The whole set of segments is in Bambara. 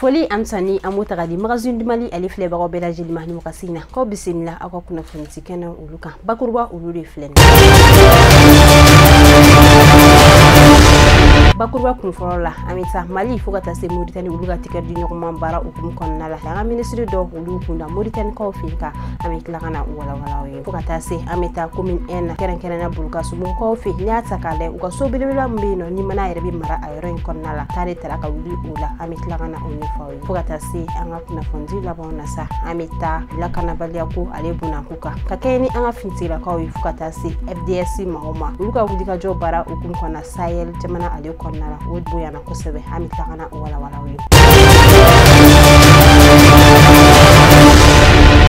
foli ani tanuni an b'o ta ka di magazine du mali ale filɛbagaw bɛɛ lajɛlen ma nin wagati in na k'aw bisimila aw ka kunnafoni ci kɛnɛ olu kan bakuruba olu de filɛ nin bakuruba kun fɔlɔ la an bɛ taa mali fo ka taa se moritani olu ka tɛgɛ di ɲɔgɔnma baara hukumu kɔnɔna la an ka minisiri dɔw olu kunda moritanikaw fɛ ka an bɛ tila ka na walawala aw ye fo ka taa se an bɛ taa commune un kɛrɛnkɛrɛnna bulukasubugukaw fɛ n'i y'a ta k'a lajɛ u ka so belebeleba min bɛ yen nɔ ni mana yɛrɛ bɛ mara a yɔrɔ in kɔnɔna la ta de tara ka wuli o la an bɛ tila ka na o ɲɛfɔ aw ye fo ka taa se an ka kunnafonidi labanw na sa an bɛ taa lakanabaliya ko ale bonda kun kan ka kɛɲɛ ni an ka finitigilakaw ye fo ka taa se fds mɔgɔw ma olu ka wulikajɔ baara hukumu kɔnɔna sahel jamana ale kɔnɔna la o bonyana kosɛbɛ an bɛ tila ka na o walawala aw ye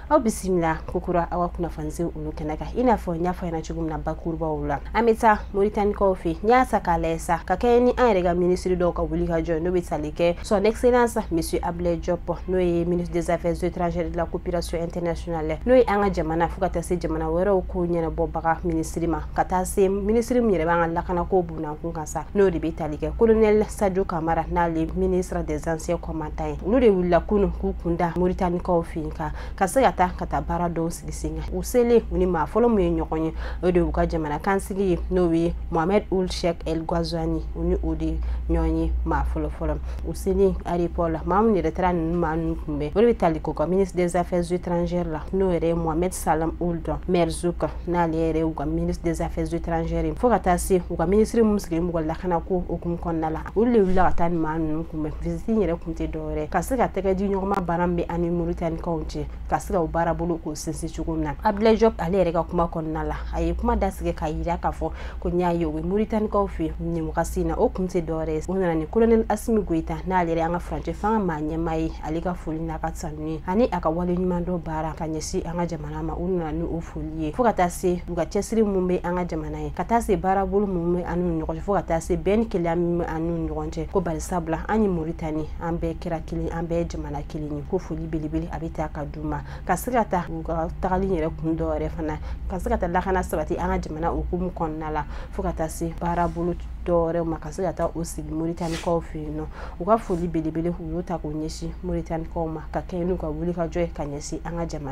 aw bisimila kokura aw ka kunnafoni ci olu kɛnɛ kan i n'a fɔ n y'a fɔ ɲɛna cogo min na bakurubaw la an bɛ taa moritanikaw fɛ n'i y'a ta k'a lajɛ sa ka kɛɲɛ ni an yɛrɛ ka minisiri dɔw ka wulikajɔ n'o bɛ tali kɛ son excellence monsieur ablaye diop n'o ye ministre des affaires étrangères de la coopération internationale n'o ye an ka jamana fo ka taa se jamana wɛrɛw ko ɲɛnabɔbaga minisiri ma ka taa se minisiri min yɛrɛ b'an ka lakanako bonda kun kan sa n'o de bɛ tali kɛ colonel sadio kamara n'ale ministre des anciens combattants ye olu de wulila kunun k'u kunda moritanikaw fɛ yen ka ka se ka taa ka taa baara dɔw sigi sen kan u selen u ni maa fɔlɔ min ye ɲɔgɔn ye o de y'u ka jamana kunnasigi ye n'o ye mohamed ould cheikh el ghazouani u ni o de ɲɔgɔn ye maa fɔlɔ fɔlɔ u selen aéroport la maa minnu yɛrɛ taara ninnu maa ninnu kunbɛn o de bɛ tali kɛ u ka ministre des affaires étrangères la n'o yɛrɛ ye mohamed salem ould merzoug n'ale yɛrɛ y'u ka ministre des affaires étrangères ye fo ka taa se u ka minisiri minnu sigilen b'u ka lakanako hukumu kɔnɔna la olu de wulila ka taa nin maa ninnu kunbɛn visite in yɛrɛ kun tɛ dɔ wɛrɛ ka se ka tɛgɛ di ɲɔgɔnma baara min bɛ an ni moritanikaw cɛ ka se ka o baara bolo k'o sinsin cogo min na abdulayi jɔp ale yɛrɛ ka kuma kɔnɔna la a ye kuma dasigi k'a yira k'a fɔ ko n'i y'a ye u bɛ moritanikaw fɛ yen nin wagati in na o kun tɛ dɔwɛrɛ ye u nana ni kolonɛli asimi goyita n'ale yɛrɛ an ka furancɛ fanga maa ɲɛmaa ye ale ka foli n'a ka tanuni ani a ka waleɲumandɔn baara ka ɲɛsin an ka jamana jamana ma u nana ni o foli ye fo ka taa se u ka cɛsiri min bɛ an ka jamana ye ka taa se baarabolo min bɛ an n'u ɲɔgɔn cɛ fo ka taa se bɛn ni kelenya min bɛ an n'u ɲɔgɔn cɛ ko bari sabula an ni moritani an bɛɛ kɛra kelen an bɛɛ jamana kelen ye ko foli belebele a bɛ ta ka d'u ma ka se ka taa u ka tagali yɛrɛ kun dɔ yɛrɛ fana ka se ka taa lakana sabati an ka jamana hukumu kɔnɔna la fo ka taa se baarabolo dɔwɛrɛw ma ka se ka taa o sigi moritanikaw fɛ yen nɔ u ka foli belebele u y'o ta k'o ɲɛsin moritanikaw ma ka kɛɲɛ n'u ka wulikajɔ ye ka ɲɛsin an ka jamana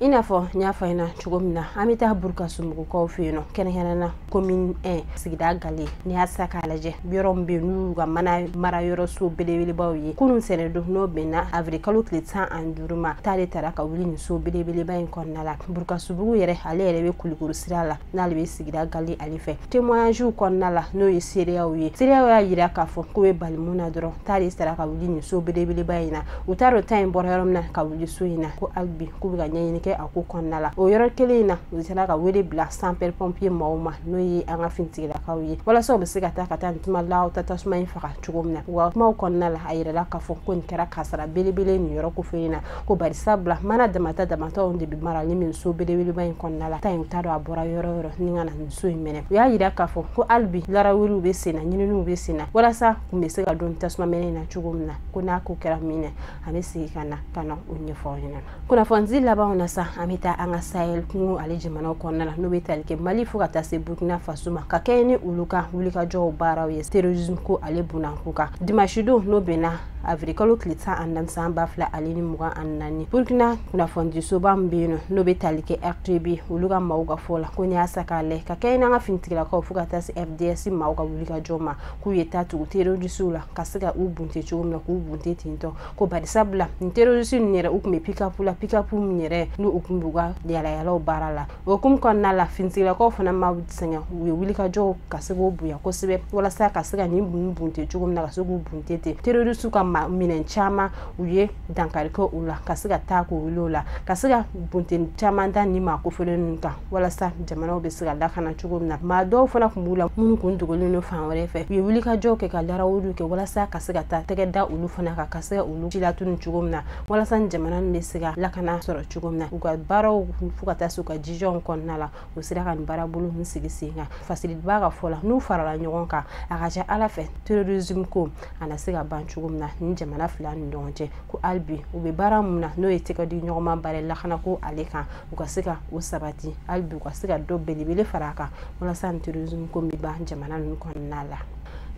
i n'a fɔ n y'a fɔ ɲɛna cogo min na an bɛ taa burukasubugukaw fɛ yen nɔ kɛrɛnkɛrɛnna commune un sigida galɛ n'i y'a ta k'a lajɛ yɔrɔ min bɛ yen n'u ka mana mara yɔrɔ so belebelebaw ye kunun ntɛnɛn don n'o bɛnna awirili kalo tile tan ani duuru ma ta de tara ka wuli nin so belebeleba in kɔnɔna la burukasubugu yɛrɛ ale yɛrɛ bɛ kulikoro sira la n'ale bɛ sigira gali ale fɛ témoignagew kɔnɔna la n'o ye seereyaw ye seereyaw y'a yira k'a fɔ k'u bɛ bali mun na dɔrɔn ta de sera ka wuli nin so belebeleba in na u t'a dɔn ta in bɔra yɔrɔ min na ka wuli so in na ko hali bi k'u bɛ ka ɲɛɲini kɛ a ko kɔnɔna la o yɔrɔ kelen in na u sera ka wele bila sapeur pompier maaw ma n'o ye an ka finitigilakaw ye walasa u bɛ se ka taa ka taa nin tuma la ta tasuma in faga cogo min na wa kumaw kɔnɔna la a yirala k'a fɔ ko nin kɛra kasaara belebele nin yɔrɔ kofɔlen in na ko barisabula mana damadɔ damadɔw de bɛ mara nin nin so belebeleba in kɔnɔna la ta in t'a dɔn a bɔra yɔrɔ yɔrɔ ni ka na nin so in minɛ u y'a yira k'a fɔ ko hali bi laraweliw bɛ senna ɲininiw bɛ senna walasa kun bɛ se ka dɔn tasuma mɛnɛna cogo min na ko n'a ko kɛra min na a bɛ segin ka na ka na o ɲɛfɔ aw ɲɛna kunnafoni labanw na sa an bɛ taa an ka sahel kungo ale jamanaw kɔnɔna la n'o bɛ tali kɛ mali fo ka taa se burkina faso ma ka kɛɲɛ ni olu ka wulikajɔw baaraw ye terrorisme ko ale bunanko kan dimanche don n'o bɛnna avril kalo tile tan ani naani san ba fila ale ni mugan ani naani burkina kunnafonidisoba min bɛ yen nɔ n'o bɛ tali kɛ rtb olu ka maaw ka fɔ la ko n'i y'a sa k'a lajɛ ka kɛɲɛ n'an ka finitigilakaw fo ka taa se fds maaw ka wulikajɔ ma k'u ye taa tugu terorisiw la ka se ka u bunte cogo min na k'u bunte ten tɔ ko barisabula nin terorisi ninnu yɛrɛ u tun bɛ pikapu la pikapu min yɛrɛ n'u u tun b'u ka yaalayaala baara la o hukumu kɔnɔna la finitigilakaw fana ma sɛgɛn u ye wulikajɔw ka se k'o bonya kosɛbɛ walasa ka se ka nin bunni bunte cogo min na ka se k'u bunte ten terorisiw ka minɛn caman u ye dankari kɛ u la ka se ka taa k'o wuli o la ka se ka bunteni caman da nin maa kofɔlen ninnu kan walasa jamanaw bɛ se ka lakana cogo min na maa dɔw fana tun b'u la minnu kun dogolen don fan wɛrɛ fɛ u ye wulikajɔw kɛ ka larawuliw kɛ walasa ka se ka taa tɛgɛ da olu fana kan ka se ka olu si latunun cogo min na walasa jamana nin bɛ se ka lakana sɔrɔ cogo min na u ka baaraw fo ka taa se u ka jijaw kɔnɔna la u sera ka nin baarabolo ninnu sigi sen kan fasiliba ka fɔ la n'u farala ɲɔgɔn kan a ka ca ala fɛ terrorisme ko a na se ka ban cogo min na nin jamana fila ni ɲɔgɔn cɛ ko hali bi u bɛ baara mun na n'o ye tɛgɛdiɲɔgɔnma baara lakana ko ale kan u ka se ka o sabati hali bi u ka se ka dɔ belebele fara a kan walasa nin terrorisme ko bɛ ban jamana ninnu kɔnɔna la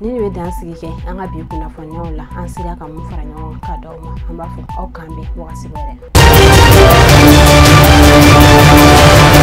nin bɛ dansigi kɛ an ka bi kunnafoniw la an sera ka mun fara ɲɔgɔn kan ka d'aw ma an b'a fɔ aw k'an bɛn wagati wɛrɛ